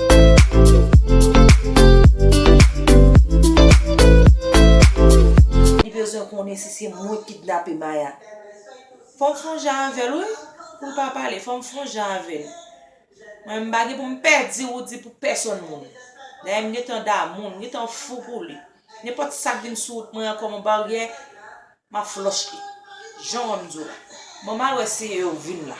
Li bezwen konnen si se mwen ki kidnape Maya. Fòm fon jan avèl wi pou l pa pale fòm fon jan avèl mwen m pa gen pou m pè di roody pou pèsòn moun dayè m gentan damoul m gentan fou pou li nenpòt sak vin sou wout mwen an kòm yon baryè map flòch li jan wèm di w la mwen mal wè si yo vin la.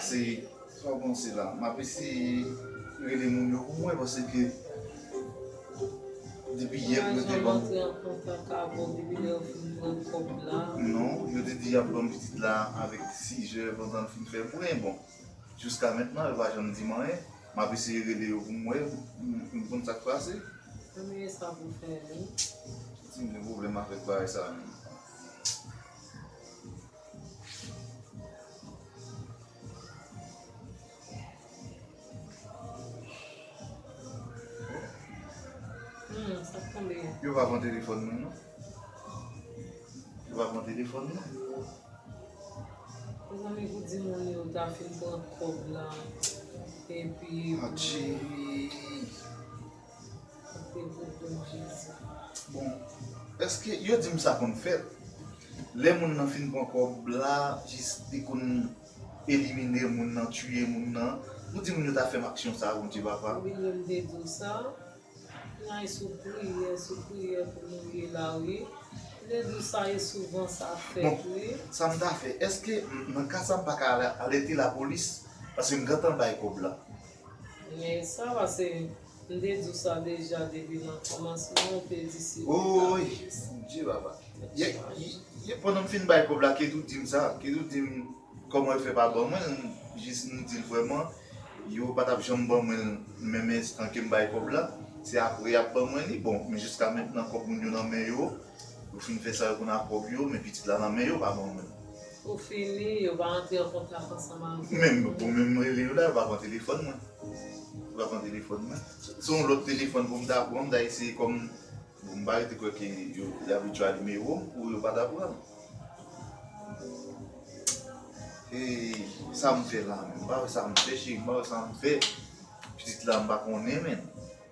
Se trò bon se la. Map eseye rele moun yo pou mwen pase ke depi yè pou yo te banm. Mwen antre an kontak avèw depi lè yo fin pran kòb la. Non, yo te di yap banm pitit la avèk 6 jè pandan l fin fè bren. Bon, jiska mentnan yo pa janm dim anyen. Map eseye rele yo pou m wè, pou m konn sak pase. Premye sa pou fè wi. Ti m gen pwoblèm avèk bagay sa menm. Yo pa pran telefòn mwen non. Yo pa pran telefòn mwen. Mwen zanmi pou di moun yo ta fin pran kòb la. Epi. Atchi. Sete pou don jezi. Bon eske yo dim sa konn fèt lè moun nan fin pran kòb la jis li konn elimine moun nan tiye moun nan ou di moun yo ta fèm aksyon sa bondye papa. Wi yo m te diw sa Nan sou priyè sou priyè pou nou ye la wi m te diw sa e souvan sa fèt wi. Bon sam ta fè eske nan ka sa m paka alète lapolis paske m gentan bay kòb la. Men sa va se m te di w sa deja depi nan kòmansman ou te di si ou ta Ooy bondye papa Ye pandan m fin bay kòb la Ketou di m sa Ketou di m kòman l fè pa ban mwen l m jis m di l vrèman yo pa t ap janm ban mwen l menm enstan ke m bay kòb la se apre y ap ban mwen li bon men jiska mentnan kòb moun yo nan men yo yo fin fè sa yo konn ak kòb yo men pitit la nan men yo pa ban mwen l. Pou fini, yo pa antre an kontak ansanm avè w. Menm pou menm rele yo la, yo pa pran telefòn mwen. Yo pa pran telefòn mwen. Se yon lòt telefòn pou m ta pran, m ta eseye kòm m pa rete kwè ke yo abitye a nimewo m pou yo pa ta pran l. E sa m fè la menm? M pa wè sa m fè cheri, m pa wè sa m fè. Pitit la m pa konnen menm.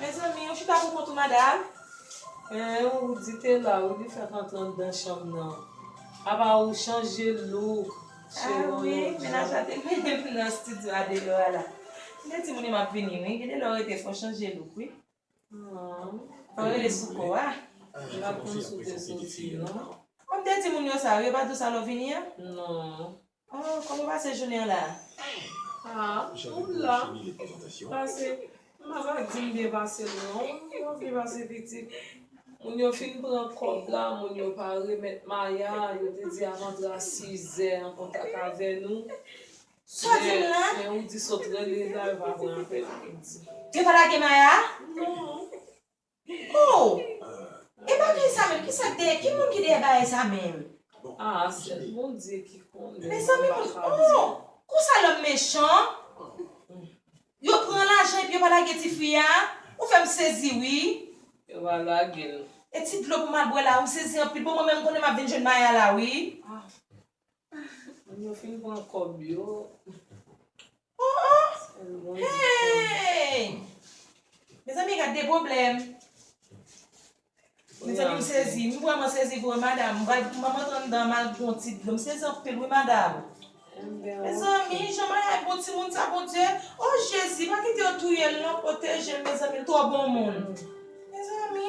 Mezanmi ou chita pou kont ou madam. Hein Roody te la Roody fèk antre andan chanm nan apa ou chanje look cheri on lòt jan. Ah wi menaj la te mennen m nan studio a deyò a la m te di moun yo map vini wi gede lè w rete fò chanje look wi fò w rele sou kò a m pat konn si w te soti non. Ou te di moun yo sa wi yo pat di w sa lè w vini an? Non. Oh koman ou pase jounen an la. Ahh ou la pase pa va dim byen pase l non mwen byen pase pitit moun yo fin pran kòb la moun yo pa remèt maya yo te di avandra sizè an kontak avè nou men ou di sot rele la yo pa pran apèl yo di. Yo pa lage maya? Non. Hoo! E bagay sa menm kisa k dèyè ki moun ki dèyè bagay sa menm. Ah sèl bondye ki konnen mwen m pa ka di. Konsa lòm mechan Yo pran lajan epi yo pa lage ti fi a Ou fèm sezi wi. Yo pa lagel. E ti dlo pou mal bwè la ou m sezi anpil bon mwen menm m konnen map vin jwenn Maya la wi. Moun yo fin pran kob yo. Ooh hey. Mezanmi gad de problem. Mezanmi m sezi, m vreman sezi vre madam, mwen mwen tande dan mal pou yon ti dlo, m sezi anpil wi madam. Mezanmi jan mayay bon timoun sa bondye oh jezi pa kite yo touyel non protejel mezanmi l tro bon moun mezanmi.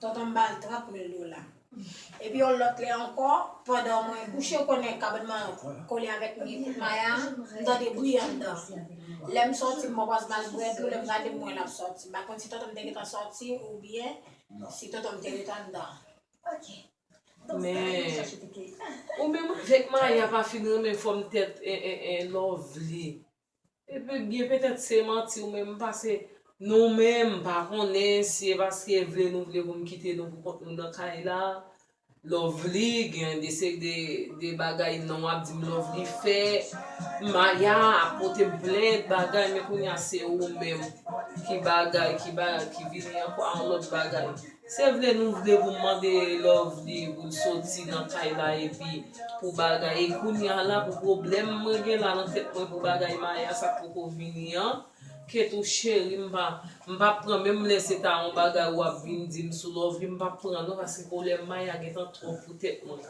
Tonton m ba l 30 mil dola. Epi yon lòt lè ankò, pandan mwen kouche ou konnen kabann mwen kole avèk mi kout maya a, m tande bri anndan. Lè m sòti m pwòpòz ba l bwè dlo, lè m gade m wè l ap sòti. M pa konn si tonton m te gentan sòti oubyen si tonton m te ret anndan. Men, ou menm avèk maya pa fin renmen fòm tèt Lovely. Ebyen petèt se manti ou menm pase nou menm pa konnen si e paske vle nou vle pou m kite nou pou kont nou nan kay la Lovely gen de se de bagay non wap di m Lovely fè Maya ap pote m plent bagay men kounya se ou menm ki bagay ki vini ankò a yon lòt bagay. Se vre nou vle pou mande Lovely poul soti nan kay la epi pou bagay e kounya la pou problèm mwen gen la nan tèt mwen pou bagay Maya sa k poko vini an ke tou cheri m pa m pap pran menm lè se ta on bagay ou ap vin di m sou Lovely m pap pran non paske problèm Maya gentan twòp pou tèt mwen.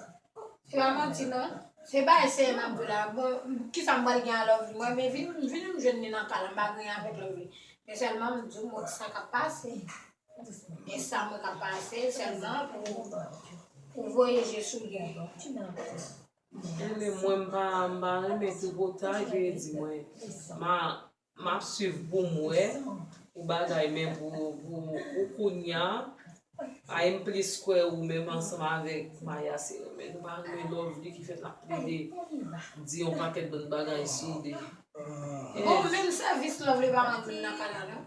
Se pa manti non. Se pa eseye map jwe la bon kisa m pral gen a Lovely mwen vini m jwenn li nan kay la m pa gen anyen avèk Lovely men sèlman m di w mwen wè sa kap pase. E sa mwen ka pase selman pou voye je sou li ankò. Anyway mwen m pa renmen tripotay veye di mwen map swiv poum wè pou bagay men pou kounya ay m plis kwè ou menm ansanm avèk maya se renmen nou pa renmen lovely ki fè nap plede di yon pakèt lòt bagay sou li. Bon menm sèvis lovely pa rann nan kanal non.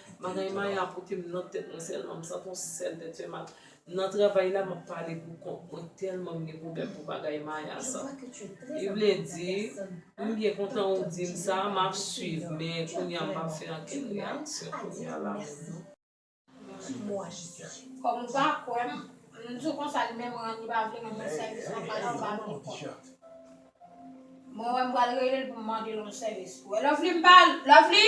Bagay Maya ap pote m nan tèt mwen sèlman, m santi yon sèl tèt fè mal. Nan travay la, m ap pale pou kont mwen tèlman m gen pwoblèm pou bagay Maya sa. Li vle di, M byen kontan ou di m sa, m ap swiv men kounye a m pa fè ankenn reyaksyon kounye a la menm non. Kòm ou pa kwè m, m di w konsa li menm Rani pa vle mwen fè sèvis nan kay la, ou pa vle konn. Mwen wè m pral rele l pou m mande l yon sèvis. Wè Lovely m pa Lovely!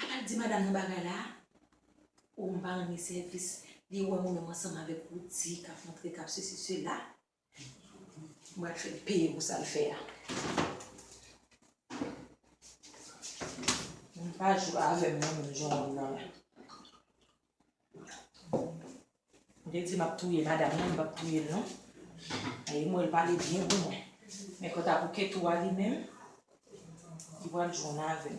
Apa l di madam nan bagay la a? O m pa renmen sèvis, li wè mwen menm ansanm avèk Roody k ap montre k ap sesi sela. M pral fè l peye pou sa l fè a. Moun pa jwe avè m non menm jan w wè m nan la. Mte di map touye madam nan mpap touyel non e m wèl pale byen pou mwen men kanta pou ketou a li menm li pral jwenn avèm.